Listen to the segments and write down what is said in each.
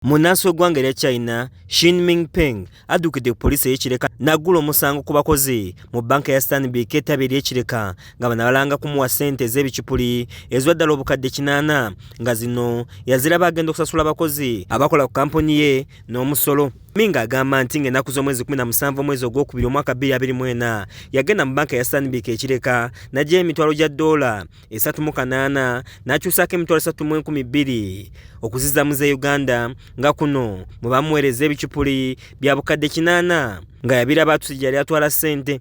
munnansi w'eggwanga erya china shinming peng addukidde ku poliisi ey'ekireka n'aggula omusango ku bakozi mu banka ya stanbic ettabi ery'ekireka nga bano abalanga kumuwa ssente ez'ebicupuli ezwa ddala obukadde kinaana nga zino yaziraba agenda okusasula abakozi abakola ku kampuni ye n'omusolo Minga agamba nti ng'ennaku z'omwezi 17 omwezi ogwokubiri omwaka 2024 yagenda mu banka ya Stanbic ekireka n'aggyayo emitwalo gya ddoola esatu mu kanaana n'akyusaako emitwalo esatu mu enkumi bbiri okuzizaamu za uganda nga kuno mwe bamuweereza ebicupuli bya bukadde kinaana nga yabira baatusi gyeyali atwala ssente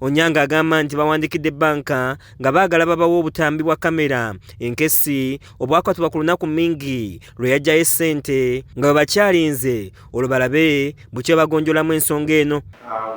Onyanga agamba nti bawandikidde bbanka nga baagala babawa obutambi bwa kamera enkessi obwakwatibwa ku lunaku mingi lwe yajjayo essente nga bwe bakyalinze olwo balabe bukye bagonjolamu ensonga eno uh,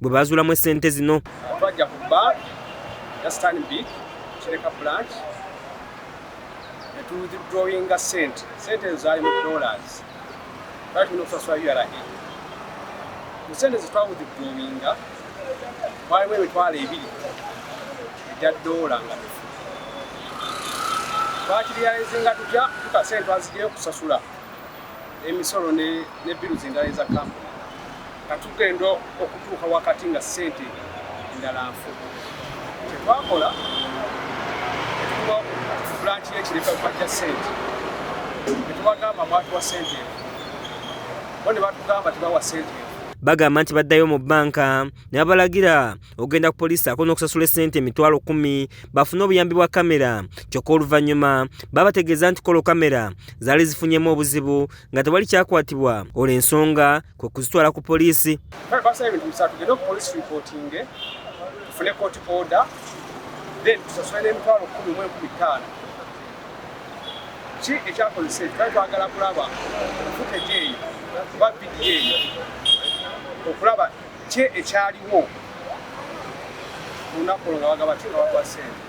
bwe baazulamu essente zino. Twajja ku bbanka ya Stanbic Kireka branch ne tudrawinga ssente. Ssente ezo zaali mu dollars. Twali tulina okusasula URA. Mu ssente ze twawudidrawinga mwalimu emitwalo ebiri egya doola nga bifu. Twakiriyalizinga tutya tukasente twazijayo okusasula emisolo ne biru zendala eza kampuni. nga tugenda okutuuka wakati nga ssente endala nfu kyetwakola bulanki yekirefa bajja ssente netubagamba mwatuwa ssente enfu bo ne batugamba tebawa ssente enfu bagamba nti baddayo mu bbanka ne babalagira okugenda ku poliisi ako n'okusasula essente emitwalo kumi bafune obuyambi bwa kamera kyokka oluvannyuma babategeeza nti kolo kamera zaali zifunyemu obuzibu nga tewali kyakwatibwa olwo ensonga kwe kuzitwala ku poliisi basaba ebintu bisatu gende ku poliisi ripootinge tufune kooti oda then tusasule n'emitwalo kumi mu enkumi ttaano ki ekyakozesa ekyo twali twagala kulaba futeji eyo oba vidiyo eyo okulaba ki ekyaliwo ku lunaku olwo nga bagaba kikawagwa sente